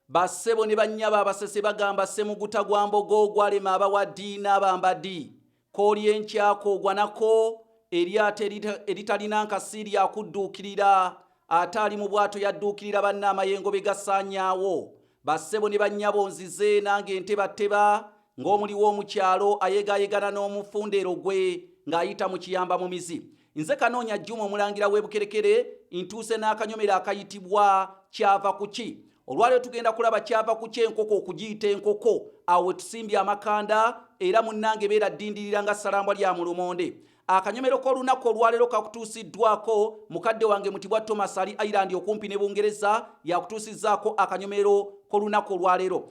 Ba ssebo ne bannyabo abasese bagamba ssemuguta gwa mbogo ogwalema abawa ddi n'abamba ddi. Koolya enkya koogwa nako, eryato eritalina nkasi lya kudduukirira, ate ali mu bwato yadduukirira banne amayengo be gasaanyaawo. Ba ssebo ne bannyabo nzize nange ntebatteba ng'omuliwo omu kyalo ayegaayegana n'omu fundeero gwe ng'ayita mu kiyamba mumizi. Nze Kanoonya Juma omulangira w'ebukerekere ntuuse n'akanyomero akayitibwa kyava kuki olwaleero tugenda kulaba kyava kuki enkoko okugiyita enkoko awo wetusimbye amakanda era munnange beera ddindirira nga salambwa lya mulumonde akanyomero k'olunaku olwaleero kakutuusiddwako mukadde wange mutibwa thomas ali ireland okumpi ne bungereza yakutuusizzaako akanyomero k'olunaku olwaleero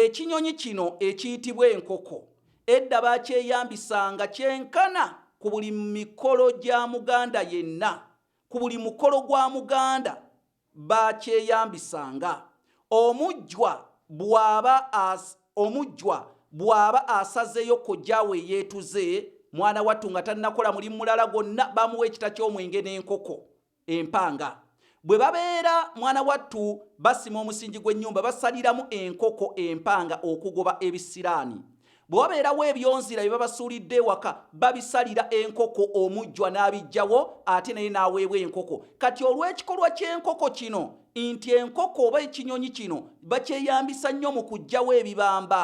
Ekinyonyi kino ekiyitibwa enkoko edda baakyeyambisanga kyenkana ku buli mikolo gya Muganda yenna. Ku buli mukolo gwa Muganda baakyeyambisanga. Omujjwa bw'aba as, omujjwa bw'aba asazeeyo kojja we yeetuze, mwana wattu nga tannakola mulimu mulala gwonna, bamuwa ekita ky'omwenge n'enkoko. empanga bwe babeera mwana wattu basima omusingi gw'ennyumba basaliramu enkoko empanga okugoba ebisiraani bwe wabeerawo ebyonzira bye babasuulidde ewaka babisalira enkoko omujjwa n'abijjawo ate naye n'aweebwa enkoko kati olw'ekikolwa ky'enkoko kino nti enkoko oba ekinyonyi kino bakyeyambisa nnyo mu kuggyawo ebibamba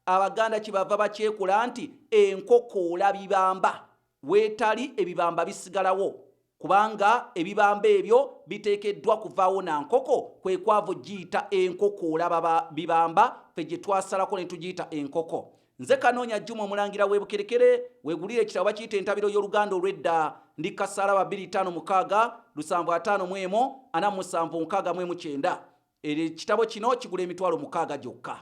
abaganda kye bava bakyekola nti enkoko olabibamba Weetali ebibamba bisigalawo kubanga ebibamba ebyo biteekeddwa kuvaawo na nkoko kwe kwavu giyita enkoko olaba bibamba fe gye twasalako ne tugiyita enkoko. Nze Kanoonya Juma omulangira w'e Bukerekere wegulira ekitabo bakiyita entabiro y'oluganda olw'edda ndi kasaala ba bbiri ttaano mukaaga lusanvu ataano mu emu ana mu musanvu nkaaga mu emu kyenda. Ekitabo kino kigula emitwalo mukaaga gyokka.